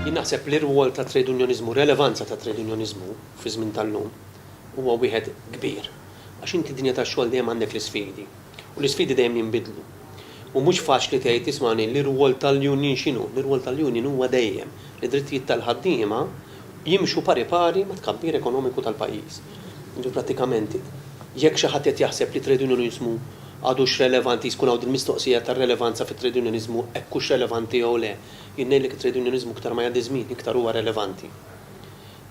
Jien naħseb li r-rwol tat-trejdunjoniżmu, r-relevanza tat-trejdunjoniżmu fiż-żmien tal-lum huwa wieħed kbir. Għax inti d-dinja tax-xogħol dejjem għandek l-isfidi, u l-isfidi dejjem jinbidlu. U mhux faċli tgħid, ismagħni, l-irwol tal-union x'inhu? L-irwol tal-union huwa dejjem li d-drittijiet tal-ħaddiema jimxu pari pari mat-tkabbir ekonomiku tal-pajjiż. Jiġifieri prattikament jekk xi ħadd qed jaħseb li t-trejdunjoniżmu Għadux relevanti jskun hawn dil-mistoqsija tar-relevanza fit-trejdunjoniżmu hekk hux relevanti jew le. Jien ngħidlek it-trejdunjoniżmu iktar ma jgħaddi ż-żmien iktar huwa relevanti.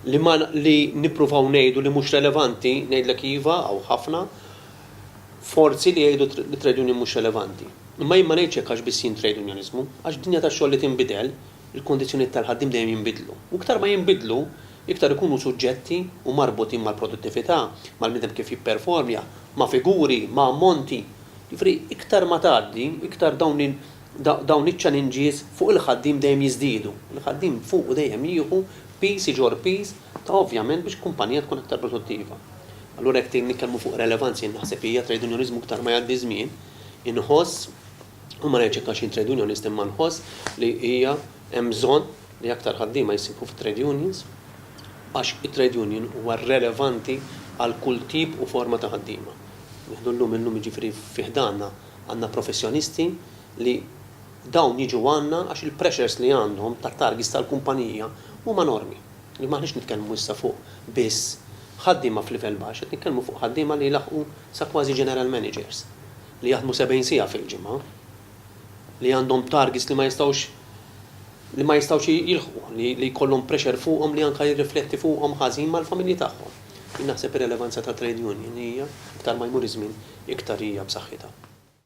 Li ma li nippruvaw ngħidu li mhux relevanti, ngħidlek iva, hawn ħafna forzi li jgħidu li t-trejdunjoni mhux relevanti. Imma jien ma ngħidx hekk għax biss jien trejdunjoniżmu. Għax f'dinja tax-xogħol li tinbidel, il-kundizzjonijiet tal-ħaddiem dejjem jinbidlu. U iktar ma jinbidlu, iktar ikunu suġġetti u marbutin mal-produttività, mal-bniedem kif jipperformja ma' figuri, ma' ammonti. Jiġifieri iktar ma tgħaddi, iktar dawn il, dawn iċ-challenges fuq il-ħaddiem dejjem jiżdiedu. Il-ħaddiem fuqu dejjem jieħu piż iġorr piż ta' ovvjament biex kumpanija tkun aktar produttiva. Allura jekk trid nitkellmu fuq relevanza jien naħseb hija trejdunjoniżmu iktar ma jgħaddi ż-żmien inħoss, u ma ngħidx hekk għax jien trejdunjonist imma nħoss li hija hemm bżonn, li aktar ħaddiema jsibu fit-trade unions għax it-trade union huwa relevanti għal kull tip u forma ta' ħaddiema. Nieħdu llum illum jiġifieri fi ħdanna għandna professjonisti li dawn jiġu għandna għax il-pressures li għandhom tat-targets tal-kumpanija huma enormi. Li m'aħniex nitkellmu issa fuq biss ħaddiema f'livell baxx, qed nitkellmu fuq ħaddiema li jlaħħqu sa kważi general managers li jaħdmu 70 siegħa fil-ġimgħa. li għandhom targets li ma jistgħux li ma jistgħux jilħqu, li li jkollhom pressure fuqhom li anke jirrifletti fuqhom ħażin mal-familji tagħhom. Jien naħseb ir-relevanza tat-trade union hija, iktar ma jmur iż-żmien, iktar hija b'saħħitha.